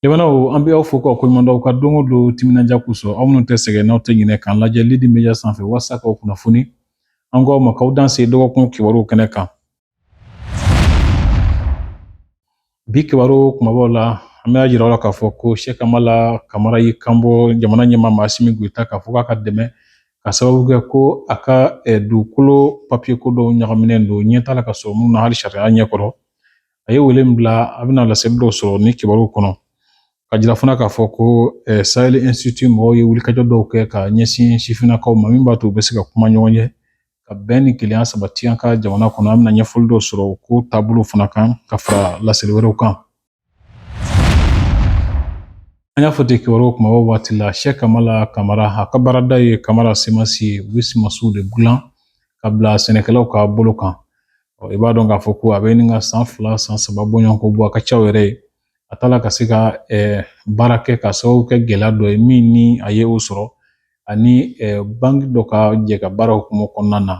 Jamanaw an bɛ aw fo k'aw koɲuman dɔn aw ka don o don timinandiya kosɔn aw minnu tɛ sɛgɛn n'aw tɛ ɲinɛ k'an lajɛ Lidi Media sanfɛ walasa k'aw kunnafoni an k'aw ma k'aw danse dɔgɔkun kibaruw kɛnɛ kan Bi kibaru kumabaw la an b'a yira aw la k'a fɔ ko Sɛki Amala Kamara y'i kanbɔ jamana ɲɛmaa ma Asimi Goyita k'a fɔ k'a ka dɛmɛ ka sababu kɛ ko a ka dugukolo papiye ko dɔw ɲagaminen don ɲɛ t'a la ka sɔrɔ minnu na hali sariya ɲɛ kɔrɔ a ye wele bila a bɛna laseli dɔw sɔrɔ nin kibaruw kɔnɔ ka jira fana k'a fɔ ko Sahel Institute mɔgɔw ye wulikajɔ dɔw kɛ ka ɲɛsin sifinnakaw ma min b'a to u bɛ se ka kuma ɲɔgɔn ye ka bɛn ni kelenya sabati an ka jamana kɔnɔ an bɛna ɲɛfɔli dɔw sɔrɔ ko taabolo fana kan ka fara laseli wɛrɛw kan an y'a fɔ ten kibaruw kumaba waati la Sɛki Amala Kamara a ka baarada ye Kamara Semansi ye u bɛ sumansiw de dilan ka bila sɛnɛkɛlaw ka bolo kan i b'a dɔn k'a fɔ ko a bɛ ɲini ka san fila san saba bɔɲɔgɔnko bɔ a ka ca yɛrɛ ye a t'a la ka se ka baara kɛ ka sababu kɛ gɛlɛya dɔ ye min ni a ye o sɔrɔ ani banki dɔ ka jɛkabaara hukumu kɔnɔna na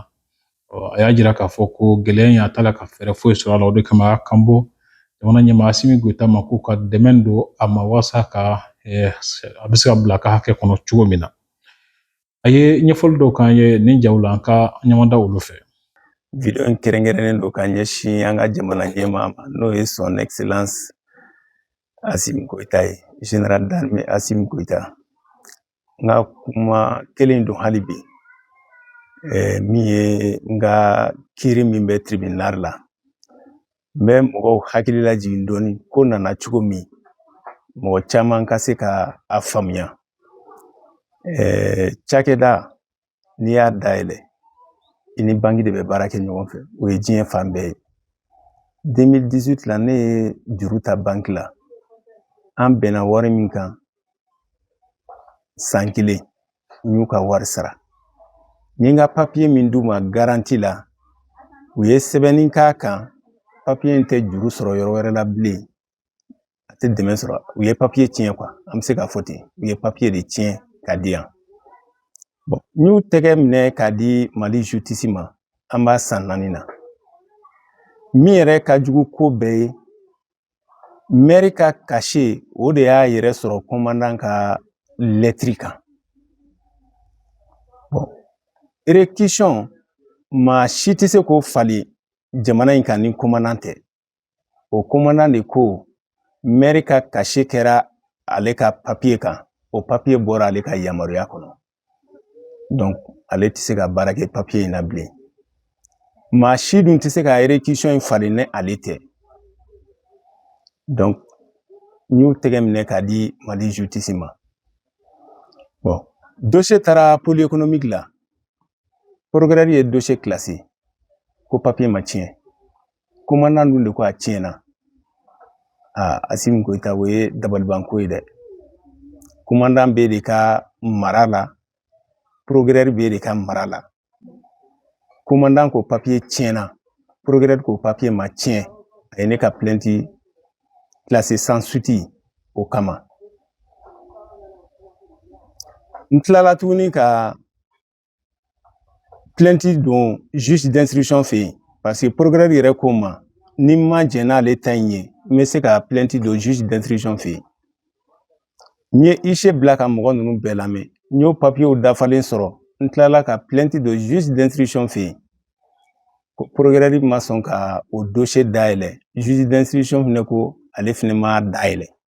a y'a jira k'a fɔ ko gɛlɛya in a t'a la ka fɛɛrɛ foyi sɔrɔ a la o de kama a y'a kanbɔ jamana ɲɛmaa Asimi Goyita ma k'u ka dɛmɛ don a ma walasa ka a bɛ se ka bila a ka hakɛ kɔnɔ cogo min na A ye ɲɛfɔli dɔw k'an ye nin jaw la an ka ɲɔgɔn da olu fɛ wideyo in kɛrɛnkɛrɛnnen don ka ɲɛsin an ka jamana ɲɛmaa ma n'o ye son excellence Asimi Goyita ye general d'armée Asimi Goyita n ka kuma kelen don hali bi min ye n ka kiiri min bɛ tribunal la n bɛ mɔgɔw hakili lajigin dɔɔni ko nana cogo min mɔgɔ caman ka se ka a faamuya cakɛda n'i y'a dayɛlɛ i ni banki de bɛ baara kɛ ɲɔgɔn fɛ o ye diɲɛ fan bɛɛ ye 2018 la ne ye juru ta banki la an bɛnna wari min kan san kelen n y'u ka wari sara n ye n ka papiye min d'u ma garanti la u ye sɛbɛnni k'a kan papiye in tɛ juru sɔrɔ yɔrɔ wɛrɛ la bilen a tɛ dɛmɛ sɔrɔ u ye papiye tiɲɛ kuwa an bɛ se k'a fɔ ten u ye papiye de tiɲɛ ka di yan bɔn n y'u tɛgɛ minɛ k'a di Mali justice ma an b'a san naani na min yɛrɛ ka jugu ko bɛɛ ye mɛri ka kase o de y'a yɛrɛ sɔrɔ komandan ka lɛtiri kan erekisɔn maa si tɛ se k'o fali jamana in kan ni komandan tɛ o komandan de ko mɛri ka kase kɛra ale ka papiye kan o papiye bɔra ale ka yamaruya kɔnɔ ale tɛ se ka baara kɛ papiye in na bilen maa si dun tɛ se ka in falen ni ale tɛ n y'o tɛgɛ minɛ k'a di mali ma do taara poli kɔnɔ mi dilan ye kilasi ko papiye ma tiɲɛ komandan dun de ko a tiɲɛna aa asimi koyita o ye dabalibanko ye dɛ komandan b'e de ka mara la procureur b'e de ka mara la komandan ko papiye tiɲɛna procureur ko papiye ma tiɲɛ a ye ne ka plɛnti classé sans suite o kama n tilala tuguni ka plɛnti don juge d'instruction fɛ yen paseke procureur yɛrɛ ko n ma ni n ma jɛn n'ale ta in ye n bɛ se ka plɛnti don juge d'instruction fɛ yen n ye huissier bila ka mɔgɔ ninnu bɛɛ lamɛn n y'o papiyew dafalen sɔrɔ n tilala ka plɛnti don juge d'instruction fɛ yen procureur ma sɔn ka o dossier dayɛlɛ juge d'instruction fɛnɛ ko ale fɛnɛ ma dayɛlɛ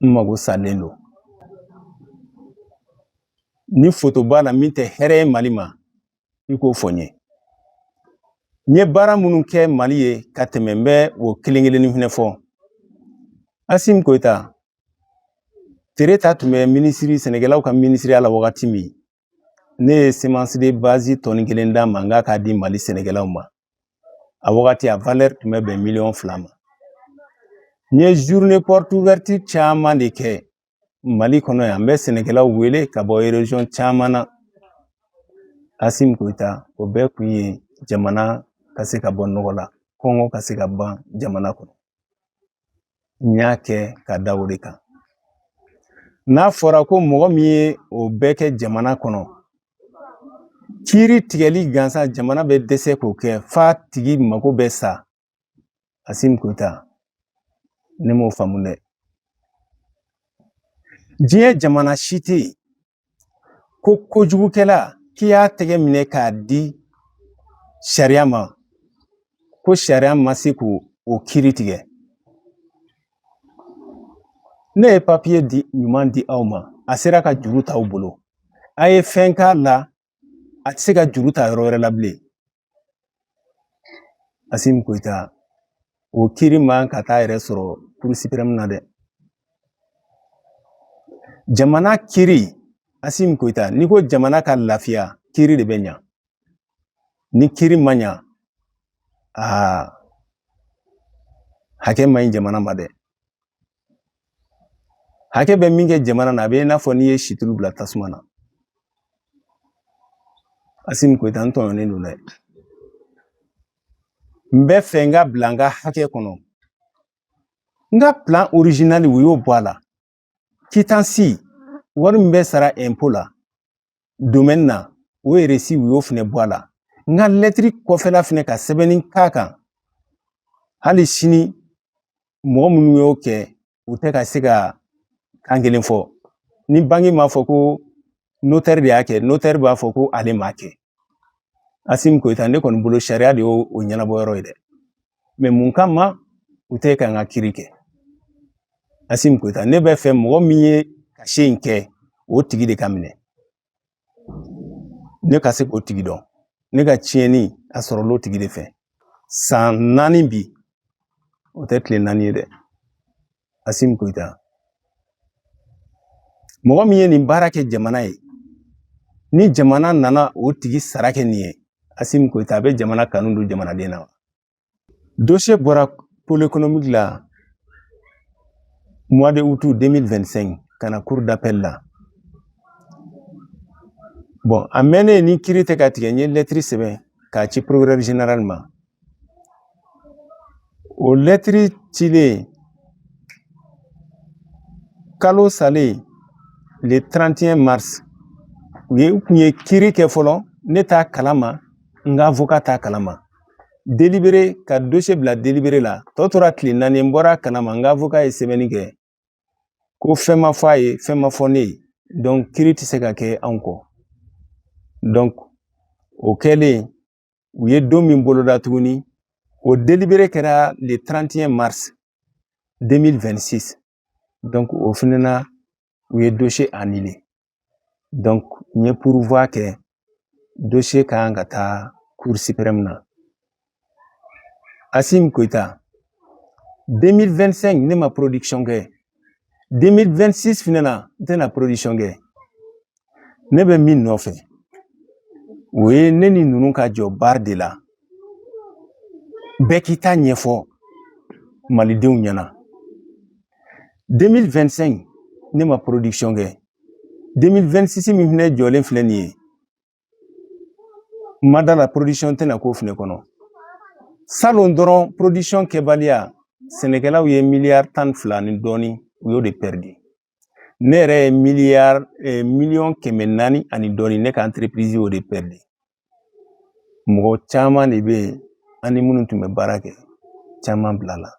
n mago salen don ni foto b'a la min tɛ hɛrɛ ye mali ma i k'o fɔ n ye n ye baara minnu kɛ mali ye ka tɛmɛ n bɛ o kelen kelenni fɛnɛ fɔ asim koyita tereta tun bɛ minisiri sɛnɛkɛlaw ka minisiriya la wagati min ne ye semence de base tɔni kelen d'a ma n k'a k'a di mali sɛnɛkɛlaw ma a wagati a valɛri tun bɛ bɛn miliyɔn fila ma n ye journée porte ouverte caman de kɛ mali kɔnɔ yan n bɛ sɛnɛkɛlaw wele ka bɔ erezɔn caman na asimi koyita o bɛɛ kun ye jamana ka se ka bɔ nɔgɔ la kɔngɔ ka se ka ban jamana kɔnɔ n y'a kɛ ka da o de kan n'a fɔra ko mɔgɔ min ye o bɛɛ kɛ jamana kɔnɔ kiiri tigɛli gansan jamana bɛ dɛsɛ k'o kɛ f'a tigi mago bɛ sa asim koyita ne m'o faamu dɛ diɲɛ jamana si tɛ yen ko kojugukɛla k'i y'a tɛgɛ minɛ k'a di sariya ma ko sariya ma se k'o o kiri tigɛ ne ye papiye di ɲuman di aw ma a sera ka juru t'aw bolo a ye fɛn k'a la a tɛ se ka juru ta yɔrɔ wɛrɛ la bilen Asim Koyita o kiri man ka taa yɛrɛ sɔrɔ Cour suprême na dɛ jamana kiri Asim Koyita n'i ko jamana ka lafiya kiri de bɛ ɲa ni kiri ma ɲa aa hakɛ man ɲi jamana ma dɛ hakɛ bɛ min kɛ jamana na a bɛ i n'a fɔ n'i ye situlu bila tasuma na asimi goyita n tɔɲɔnen don dɛ n bɛ fɛ n ka bila n ka hakɛ kɔnɔ n ka plan original u y'o bɔ a la kitansi wari min bɛ sara ɛnpo la na o reçu u y'o fɛnɛ bɔ a la n ka lɛtiri kɔfɛla fɛnɛ ka sɛbɛnni k'a kan hali sini mɔgɔ minnu y'o kɛ u tɛ ka se ka kan kelen fɔ ni banki m'a fɔ ko notɛri de y'a kɛ notɛri b'a fɔ ko ale m'a kɛ asimi goyita ne kɔni bolo sariya de y'o o ɲɛnabɔ yɔrɔ ye dɛ mɛ mun kama u tɛ ka n ka kiri kɛ asimi goyita ne bɛ fɛ mɔgɔ min ye cachet in kɛ o tigi de ka minɛ ne ka se k'o tigi dɔn ne ka tiɲɛni a sɔrɔl'o tigi de fɛ san naani bi o tɛ tile naani ye dɛ Asimi Goyita mɔgɔ min ye nin baara kɛ jamana ye ni jamana nana o tigi sara kɛ nin ye Asimi Goyita a bɛ jamana kanu don jamanaden na wa dosiye bɔra pôle économique la mois de août 2025 ka na cour d'appel la bɔn a mɛnnen ni kiri tɛ ka tigɛ n ye lɛtiri sɛbɛn k'a ci procureur général ma O lɛtiri cilen kalo salen le 31 mars u ye u kun ye kiri kɛ fɔlɔ ne t'a kalama n ka avocat t'a kalama delibere ka dosiye bila delibere la tɔ tora tile naani n bɔra kalama n ka avocat ye sɛbɛnni kɛ ko fɛn ma fɔ a ye fɛn ma fɔ ne ye donc kiri tɛ se ka kɛ anw kɔ donc o kɛlen u ye don min boloda tuguni o delibere kɛra le 31 mars 2026 donc o fɛnɛ na u ye dossier annulé donc n ye pourvoi kɛ dossier ka kan ka taa cour suprême na asimi goyita 2025 ne ma production kɛ 2026 fɛnɛ na n tɛna production kɛ ne bɛ min nɔfɛ o ye ne ni ninnu ka jɔ barre de la bɛɛ k'i ta ɲɛfɔ malidenw ɲɛna 2025 ne ma production kɛ 2026 min fɛnɛ jɔlen filɛ nin ye ma da la porodisɔn tɛna k'o fɛnɛ kɔnɔ salon dɔrɔn porodisɔn kɛbaliya sɛnɛkɛlaw ye miliyari tan ni fila ni dɔɔni u y'o de pɛridi ne yɛrɛ ye miliyari eh, miliyɔn kɛmɛ naani ani dɔɔni ne ka anterepirizi y'o de pɛridi mɔgɔ caman de bɛ yen an ni minnu tun bɛ baara kɛ caman bila la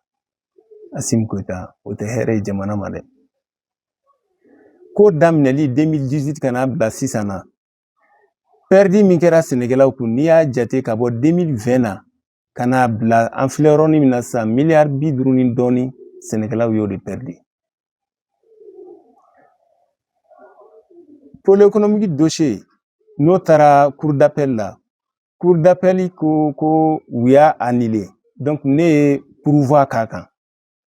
Asimi Goyita o tɛ hɛrɛ ye jamana ma dɛ ko daminɛli 2018 ka n'a bila sisan na pɛridi min kɛra sɛnɛkɛlaw kun n'i y'a jate ka bɔ 2020 na ka n'a bila an filɛ yɔrɔnin min na sisan miliyari bi duuru ni dɔɔni sɛnɛkɛlaw y'o de pɛridi pole ekonomiki dosiye n'o taara kurudapɛli la kurudapɛli ko u y'a anile dɔnki ne ye puruwa k'a kan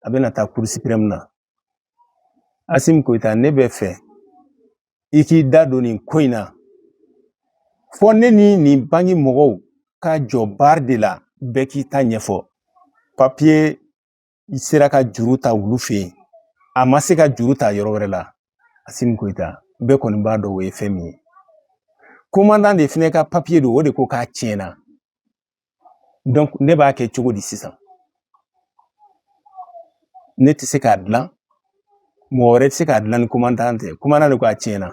a bɛna taa kurusipirɛmu na Asimi Goyita ne bɛ fɛ i k'i da don nin ko in na fɔ ne ni nin banki mɔgɔw ka jɔ bari de la bɛɛ k'i ta ɲɛfɔ papiye sera ka juru ta olu fɛ yen a ma se ka juru ta yɔrɔ wɛrɛ la Asimi Goyita bɛɛ kɔni b'a dɔn o ye fɛn min ye komandan de fɛnɛ ka papiye don o de ko k'a tiɲɛna ne b'a kɛ cogo di sisan ne tɛ se k'a dilan mɔgɔ wɛrɛ tɛ se k'a dilan ni komandan tɛ komandan de ko a tiɲɛna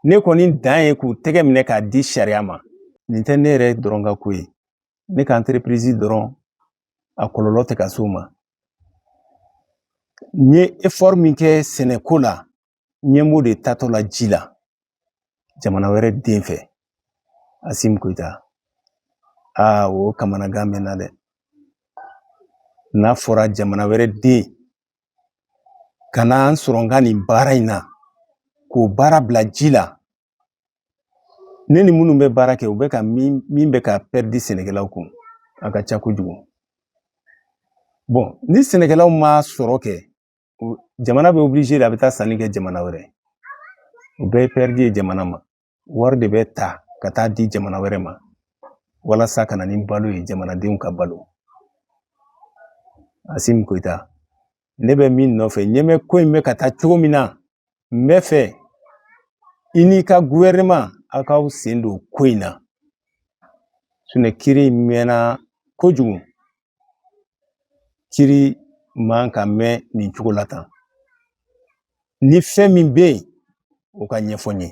ne kɔni dan ye k'u tɛgɛ minɛ k'a di sariya ma nin tɛ ne yɛrɛ dɔrɔn ka ko ye ne ka anterepirizi dɔrɔn a kɔlɔlɔ tɛ ka s'o ma n ye efɔri min kɛ sɛnɛko la ɲɛ b'o de taatɔ la ji la jamana wɛrɛ den fɛ Asimi Goyita aa o kamanagan bɛ n na dɛ n'a fɔra jamana wɛrɛ den ka na n sɔrɔ n ka nin baara in na k'o baara bila ji la ne ni minnu bɛ baara kɛ u bɛ ka min bɛ ka pɛridi sɛnɛkɛlaw kun a ka ca kojugu bɔn ni sɛnɛkɛlaw ma sɔrɔ kɛ jamana bɛ obilize de a bɛ taa sanni kɛ jamana wɛrɛ o bɛɛ ye pɛridi ye jamana ma wari de bɛ ta ka taa di jamana wɛrɛ ma walasa ka na ni balo ye jamanadenw ka balo Asimi Goyita ne bɛ min nɔfɛ ɲɛ bɛ ko in bɛ ka taa cogo min na n bɛ fɛ i n'i ka guwɛrɛnɛma aw k'aw sen don ko in na sinɔn kiri mɛnna kojugu kiiri man ka mɛɛn nin cogo la tan ni fɛn min bɛ yen u k'a ɲɛfɔ n ye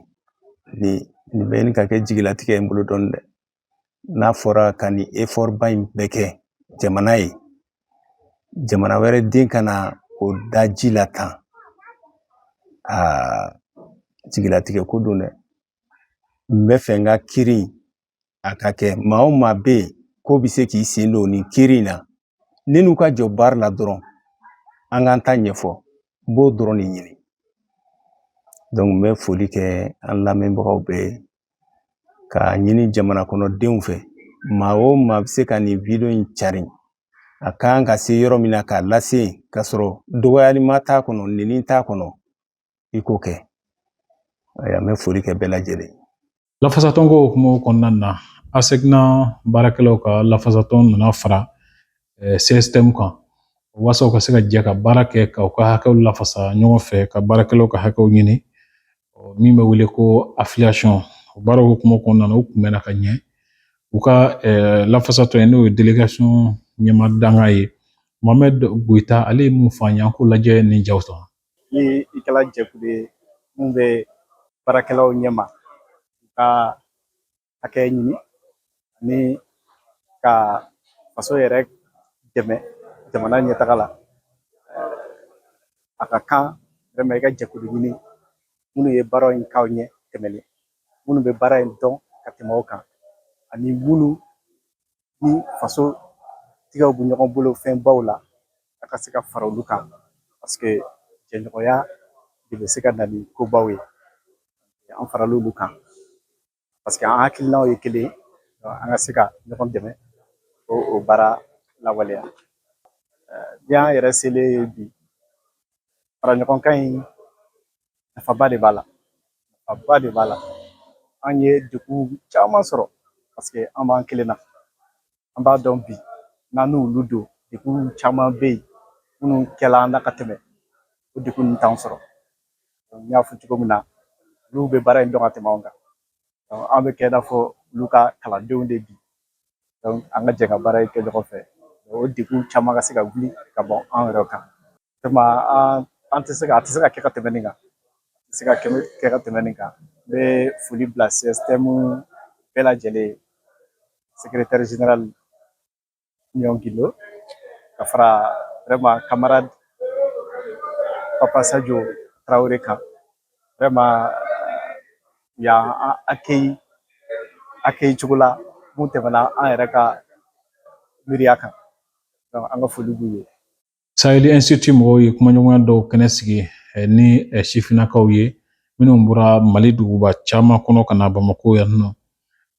nin bɛ ɲini ka kɛ jigilatigɛ ye n bolo dɔɔnin dɛ n'a fɔra ka nin efɔri ba in bɛɛ kɛ jamana ye jamana wɛrɛ den ka na o da ji la tan aa jigilatigɛ ko don dɛ n b'a fɛ n ka kiiri a ka kɛ maa o maa bɛ yen k'o bɛ se k'i sen don nin kiiri in na ne n'u ka jɔ baari la dɔrɔn an k'an ta ɲɛfɔ n b'o dɔrɔn de ɲini n bɛ foli kɛ an lamɛnbagaw bɛɛ ye k'a ɲini jamana kɔnɔdenw fɛ maa o maa bɛ se ka nin wideyo in carin a kan ka se yɔrɔ min na k'a lase yen k'a sɔrɔ dɔgɔyalima t'a kɔnɔ nɛni t'a kɔnɔ i k'o kɛ an bɛ foli kɛ bɛɛ lajɛlen ye lafasatɔnko hukumu kɔnɔna na ASECNA baarakɛlaw ka lafasatɔn nana fara CSTM kan waasa u ka se ka jɛ ka baara kɛ ka u ka hakɛw lafasa ɲɔgɔn fɛ ka baarakɛlaw ka hakɛw ɲini min bɛ wele ko afiliyasɔn o baaraw hukumu kɔnɔna na u kunbɛnna ka ɲɛ u ka lafasatɔn ye n'o ye delegasɔn ɲɛmaa dankan ye mohamɛdi goyita ale ye mun fɔ an ye an k'o lajɛ nin jaw sɔrɔ ni i kɛla jɛkulu ye min bɛ baarakɛlaw ɲɛma u ka hakɛ ɲini ani ka faso yɛrɛ dɛmɛ jamana ɲɛtaga la a ka kan wɛrɛman i ka jɛkulu ɲini minnu ye baara in k'aw ɲɛ tɛmɛlen minnu bɛ baara in dɔn ka tɛmɛ aw kan ani minnu ni faso tigɛw bɛ ɲɔgɔn bolo fɛn baw la a ka se ka fara olu kan paseke jɛɲɔgɔnya de bɛ se ka na ni kobaw ye an farala olu kan paseke an hakilinaw ye kelen ye an ka se ka ɲɔgɔn dɛmɛ ka o baara lawaleya ni an yɛrɛ selen ye bi fara ɲɔgɔn kan in nafaba de b'a la nafaba de b'a la an ye degun caman sɔrɔ paseke an b'an kelen na an b'a dɔn bi n'an n'olu don degun caman bɛ yen minnu kɛla an na ka tɛmɛ o degun ninnu t'an sɔrɔ n y'a fɔ cogo min na olu bɛ baara in dɔn ka tɛmɛ anw kan an bɛ kɛ i n'a fɔ olu ka kalandenw de bi an ka jɛ ka baara in kɛ ɲɔgɔn fɛ o degun caman ka se ka wuli ka bɔ an yɛrɛ kan vraiment an an tɛ se ka a tɛ se ka kɛ ka tɛmɛ nin kan a tɛ se ka kɛ ka tɛmɛ nin kan n bɛ foli bila CSTM bɛɛ lajɛlen secrétaire général Amion Guindo ka fara vraiment camarade Papa Sadio Traoré kan vraiment y'an accueilli cogo la mun tɛmɛna an yɛrɛ ka miiriya kan donc an ka foli b'u ye Sahel Institute mɔgɔw ye kumaɲɔgɔnya dɔw kɛnɛ sigi eh, ni eh, sifinnakaw ye minnu bɔra Mali duguba caman kɔnɔ ka na Bamako yan nɔ.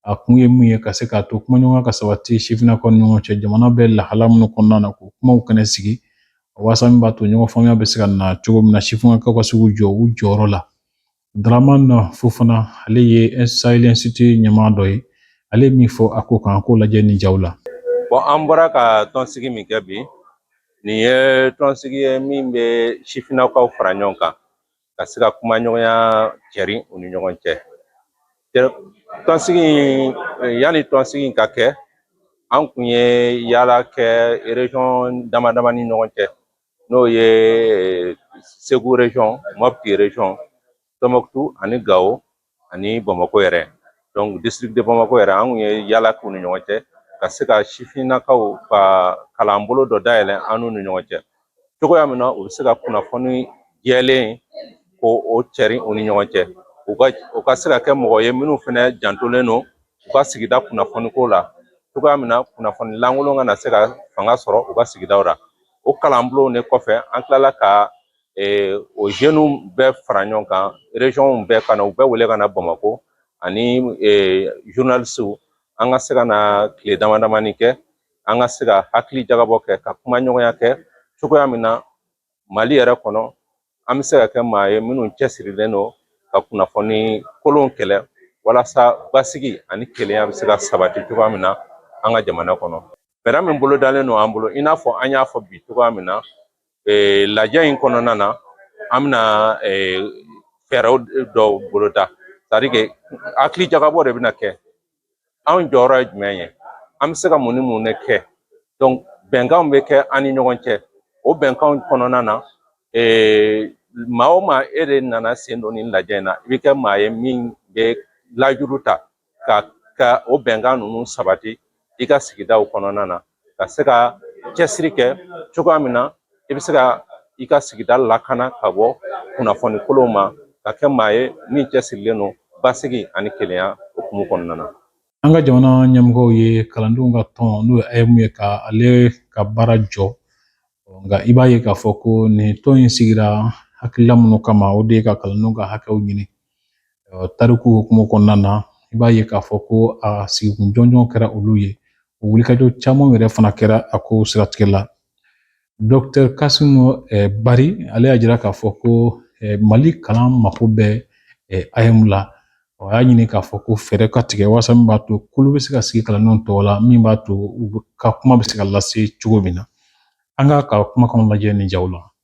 A kun ye mun ye ka se k'a to kumaɲɔgɔnya ka sabati sifinnakaw ni ɲɔgɔn cɛ jamana bɛ lahala minnu kɔnɔna na k'o kumaw kɛnɛ sigi waasa min b'a to ɲɔgɔn faamuya bɛ se ka na cogo min na sifinnakaw ka se k'u jɔ u jɔyɔrɔ la Dramane Fofana ale ye Sahel Institute ɲɛmaa dɔ ye ale min fɔ a ko kan k'o lajɛ nin jaw la bon an bɔra ka tɔnsigi min kɛ bi nin ye tɔnsigi ye min bɛ sifinnakaw fara ɲɔgɔn kan ka se ka kumaɲɔgɔnya cɛri u ni ɲɔgɔn cɛ tɔnsigi yanni tɔnsigi ka kɛ an kun ye yaala kɛ région dama dama ni ɲɔgɔn cɛ n'o ye segu région mopti région tɔnbɔkutu ani gawo ani bamakɔ yɛrɛ donc district de bamakɔ yɛrɛ an kun ye yaala k'u ni ɲɔgɔn cɛ ka se ka sifinnakaw ka kalan bolo dɔ dayɛlɛ an n'u ni ɲɔgɔn cɛ cogoya min na u bɛ se ka kunnafoni jɛlen k'o cɛri u ni ɲɔgɔn cɛ u ka u ka se ka kɛ mɔgɔ ye minnu fana jantolen don u ka sigida kunnafoni ko la cogoya min na kunnafoni lankolon kana se ka fanga sɔrɔ u ka sigidaw la o kalanbulonw de kɔfɛ an tilala ka o jeunew bɛɛ fara ɲɔgɔn kan région bɛɛ ka na u bɛɛ wele ka na bamakɔ ani journalistew an ka se ka na tile dama damani kɛ an ka se ka hakili jagabɔ kɛ ka kumaɲɔgɔnya kɛ cogoya min na mali yɛrɛ kɔnɔ an bɛ se ka kɛ maa ye minnu cɛsirilen don ka kunnafoni kolon kɛlɛ walasa basigi ani kelenya bɛ se ka sabati cogoya min na an ka jamana kɔnɔ fɛɛrɛ min bolodalen don an bolo i n'a fɔ an y'a fɔ bi cogoya min na ee, lajɛ in kɔnɔna na an bɛna ee, fɛɛrɛw dɔw boloda c'est-à-dire que hakili jagabɔ de bɛna kɛ anw jɔyɔrɔ ye jumɛn ye an bɛ se ka mun ni mun de kɛ donc bɛnkanw bɛ kɛ an ni ɲɔgɔn cɛ o bɛnkanw kɔnɔna na ee, maa o maa e de nana sen don nin lajɛ in na i bɛ kɛ maa ye min bɛ layidu ta ka ka o bɛnkan ninnu sabati i ka sigidaw kɔnɔna na ka se ka cɛsiri kɛ cogoya min na i bɛ se ka i ka sigida lakana ka bɔ kunnafoni kolonw ma ka kɛ maa ye min cɛsirilen don basigi ani kelenya hukumu kɔnɔna na an ka jamana ɲɛmɔgɔw ye kalandenw ka tɔn n'o ye AEEM ye ka ale ka baara jɔ nka i b'a ye k'a fɔ ko nin tɔn in sigira hakilila minnu kama o de ye ka kalandenw ka hakɛw ɲini tariku hukumu kɔnɔna na i b'a ye k'a fɔ ko a sigikun jɔnjɔn kɛra olu ye o wulikajɔ caman yɛrɛ fana kɛra a ko siratigɛ la dɔkitɛr kasimu bari ale y'a jira k'a fɔ ko mali kalan mako bɛ AEEM la a y'a ɲini k'a fɔ ko fɛɛrɛ ka tigɛ walasa min b'a to kulu bɛ se ka sigi kalandenw tɔgɔ la min b'a to u ka kuma bɛ se ka lase cogo min na an k'a ka kumakanw lajɛ nin jaw la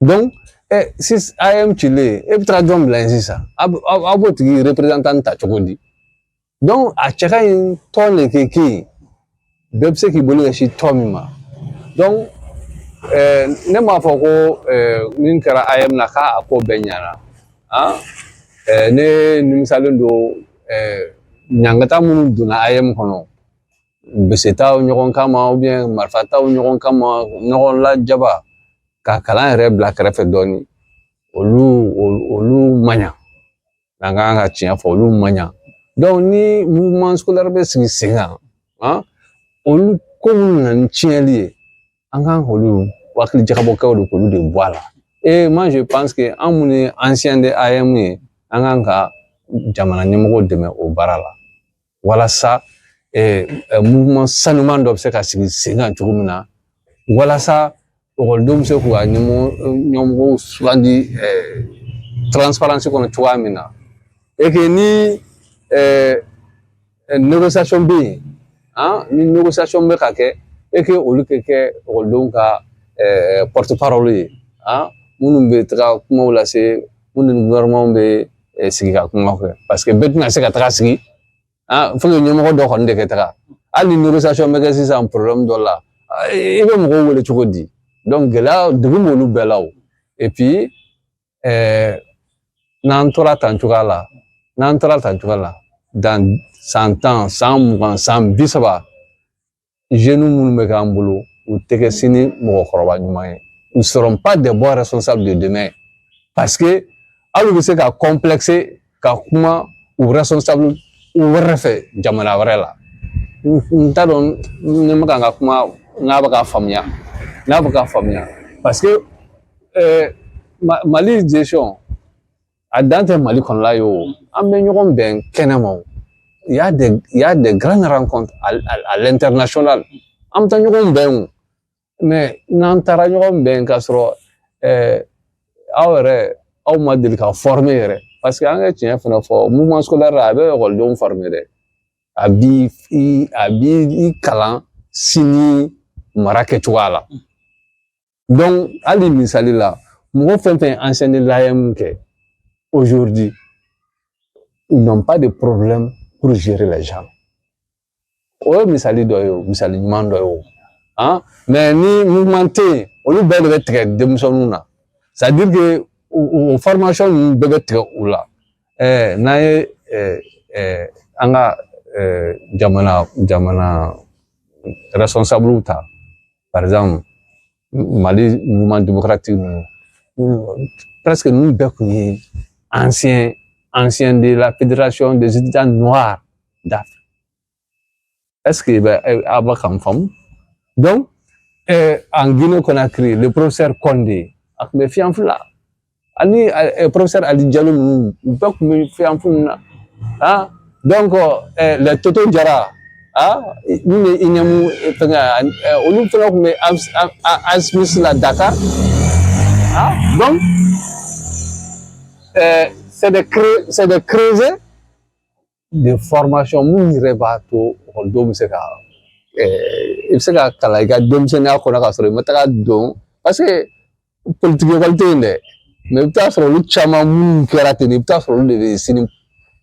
donc si AEEM cilen e bɛ taa jɔn bila yen sisan aw b'o tigi ta cogo di a cɛ ka ɲi tɔn de ka kɛ yen bɛɛ bɛ se k'i bolo ɲɛsin tɔn min ma ne m'a fɔ ko min kɛra AEEM na k'a ko bɛɛ ɲɛna ne nimisalen don ɲangata minnu donna AEEM kɔnɔ bese taw ɲɔgɔn kama marifa taw ɲɔgɔn kama ɲɔgɔn lajaba ka kalan yɛrɛ bila kɛrɛfɛ dɔɔnin olu olu man ɲa an kan ka tiɲɛ fɔ olu man ɲa ni mouvement scolaire bɛ sigi sen kan an olu ko minnu nana ni tiɲɛli ye an kan k'olu hakili jagabɔ kɛ de k'olu de bɔ a la et moi je pense que an minnu ye ancien de AEEM ye an kan ka jamana ɲɛmɔgɔw dɛmɛ o baara la walasa mouvement sanuman dɔ bɛ se ka sigi sen kan cogo min na walasa ekɔlidenw bɛ se k'u ka ɲɛmɔgɔw sugandi transparence kɔnɔ cogoya min na et que ni négociation bɛ yen ni négociation bɛ ka kɛ et que olu ka kɛ ekɔlidenw ka porte-parole ye minnu bɛ taga kumaw lase minnu ni gouvernement bɛ sigi ka kuma kɛ parce que bɛɛ tɛna se ka taga sigi faut que ɲɛmɔgɔ dɔ kɔni de ka taga hali ni négociation bɛ kɛ sisan problème dɔ la i bɛ mɔgɔw wele cogo di donc gɛlɛya dun b'olu bɛɛ la o et puis n'an tora tan cogoya la dans san tan san mugan san bi saba minnu bɛ k'an bolo u tɛ kɛ sini mɔgɔkɔrɔba ɲuman ye ils seront pas de bons responsables de demain parce que hali u bɛ se ka complexer ka kuma u responsable wɛrɛ fɛ jamana wɛrɛ la n t'a dɔn ne bɛ ka n ka kuma n'a bɛ ka faamuya parce que mali gestion a dan tɛ mali kɔnɔla ye o an bɛ ɲɔgɔn bɛn kɛnɛ ma o y'a des y'a des grandes rencontres à l'international an bɛ taa ɲɔgɔn bɛn o mais n'an taara ɲɔgɔn bɛn k'a sɔrɔ ɛɛ aw yɛrɛ aw ma deli ka former yɛrɛ parce que an ka tiɲɛ fana fɔ mouvement scolaire a bɛ ekɔlidenw former dɛ a b'i a b'i kalan sini mara kɛcogoya la hali misali la mɔgɔ fɛn fɛn ye l'AEEM kɛ aujourd'hui ils n'ont pas de problème pour gérer les gens o ye misali dɔ ye o misali ɲuman dɔ ye o han mais ni mouvement tɛ yen olu bɛɛ de bɛ tigɛ denmisɛnninw na c'est à dire que o formation ninnu bɛɛ bɛ tigɛ u la ɛɛ n'an ye ɛɛ ɛɛ an ka ɛɛ jamana jamana responsable ta par exemple mali mouvement démocratique presque ninnu bɛɛ kun ye ancien ancien de la fédération des étudiants noirs d'Afrique est-ce que bɛ aw bɛ k'an faamu donc en Guinée Conakry le professeur Condé a kun bɛ FEANF la ani professeur ali jalo ninnu u bɛɛ kun bɛ FEANF na a les toto jara a min bɛ i ɲɛmu fɛngɛ olu fana kun bɛ asmisi la dakar donc c'est des creusets de formation minnu yɛrɛ b'a to ekɔlidenw bɛ se ka i bɛ se ka kalan i ka denmisɛnninya kɔnɔ k'a sɔrɔ i ma taga don parce que politigi ekɔli tɛ yen dɛ mais i bɛ t'a sɔrɔ olu caman minnu kɛra ten i bɛ t'a sɔrɔ olu de bɛ sini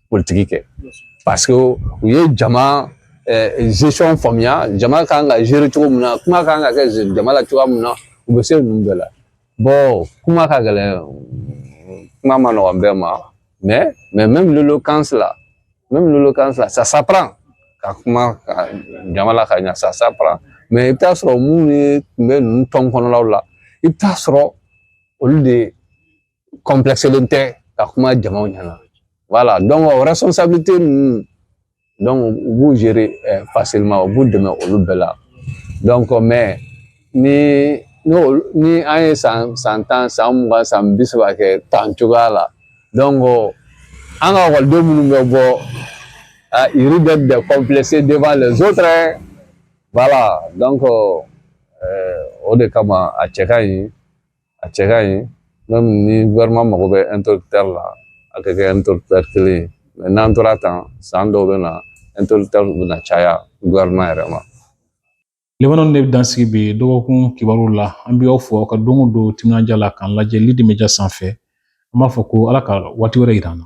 politigi kɛ parce que u ye jama gestion faamuya jama kan ka gérer cogo min na kuma kan ka kɛ jama la cogoya min na u bɛ se ninnu bɛɛ la kuma ka gɛlɛn kuma ma nɔgɔn bɛɛ ma mais même l'éloquence même l'éloquence là ça s'apprend ka kuma jama la ka ɲa ça s'apprend mais i bɛ t'a sɔrɔ minnu ye tun bɛ ninnu tɔn kɔnɔlaw la i bɛ t'a sɔrɔ olu de complexélen tɛ ka kuma jamaw ɲɛna voilà donc responsabilité ninnu u b'u ma u b'u dɛmɛ olu bɛɛ la ni n'o ni an ye san san tan san mugan san bi saba kɛ tan cogoya la an ka ekɔliden minnu bɛ bɔ yiri bɛ bɛn kɔnpilɛse denfa la zotara wala o de kama a cɛ ka ɲi a cɛ ka ɲi même ni gouvernement mago bɛ interlocuteur la a ka kɛ interlocuteur kelen ye mais n'an tora tan san dɔw bɛ na interlocuteur bɛ na caya gouvernement yɛrɛ ma laban in de bɛ dan sigi bi dɔgɔkun kibaru la an bɛ aw fo aw ka don o don timinandiya la k'an lajɛ Lidi Media sanfɛ an b'a fɔ ko ala ka waati wɛrɛ yira an na